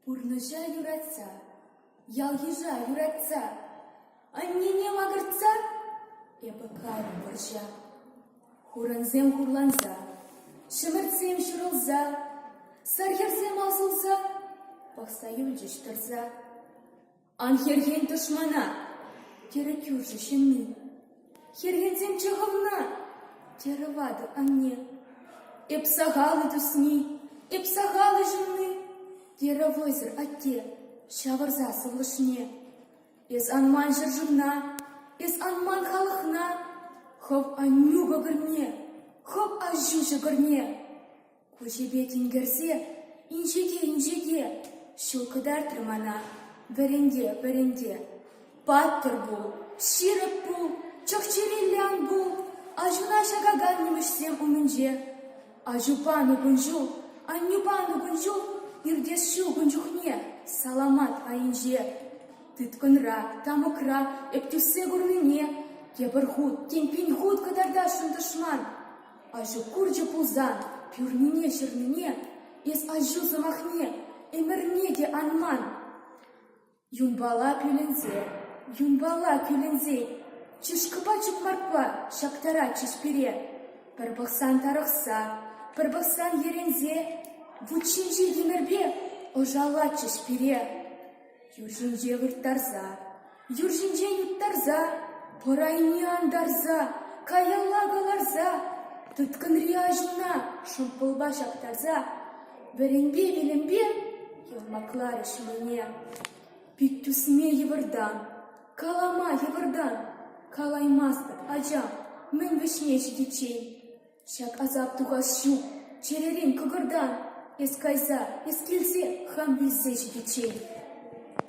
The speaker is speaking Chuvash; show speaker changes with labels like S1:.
S1: Пурнӑҫа юратса, ял-йыша юратса, аннене макӑртса эпӗ кайрӑм вӑрҫа. Хурансем хурланса, ҫӗмӗртсем ҫурӑлса, сар хӗрсем асӑлса пӑхса юлчӗҫ тӑрса. Ан хӗрхен тӑшмана, терӗ кӳршӗ ҫынни. Хӗрхенсемччӗ хӑвна, терӗ ватӑ анне. Эп сахал-и тусни, эп сахал ҫынни, терӗ вӑйсӑр атте ҫавӑрса сывлӑшне. Эс ан ман ҫӗршывна, эс ан ман халӑхна, хӑв Аннӳ кӑкӑрне, хӑв аҫу ҫӑкӑрне. Куҫӗпе тинкерсе инҫете-инҫете ҫул кӑтартрӗ мана. Вӗренте, вӗренте. Паттӑр пул, ҫирӗп пул, чӑх-чӗреллӗ ан пул. Аҫуна ҫакакан нимӗҫсем умӗнче. Аҫупа ну кун ҫул, аннӳпа ну кун ҫул иртес ҫук ун чухне саламат айӗнче. Тыткӑнра, тамӑкра эп тӳссе курнине тепӗр хут, тем пин хут кӑтартасшӑн тӑшман. Аҫу курчӗ пулсан пӳрнине-ҫырнине, эс аҫу сӑмахне, ӗмӗрне те ан ман. Юнпала кӳлӗнсе, юнпала кӳлӗнсе, чышкӑпа чукмаркпа ҫактаратчӗҫ пире. Пӗр пӑхсан тарӑхса, пӗр пӑхсан йӗренсе, вут ҫинчи тимӗрпе ӑшаллатчӗҫ пире. Юр ҫинче вырттарса, Юр ҫинчен уттарса, пӑр айне антарса, каялла кӑларса, тыткӑнри аҫуна шӑмпӑлпа ҫаптарса вӗренпе-вилӗмпе ярмакларӗ ҫулне. Пит тӳсме йывӑртан, калама йывӑртан, калаймастӑп, ача, мӗн вӗҫне ҫитиччен. Ҫак асап тухас ҫук, чӗререн кӑкӑртан эс кайса, эс килсе, хам вилсе ҫитиччен.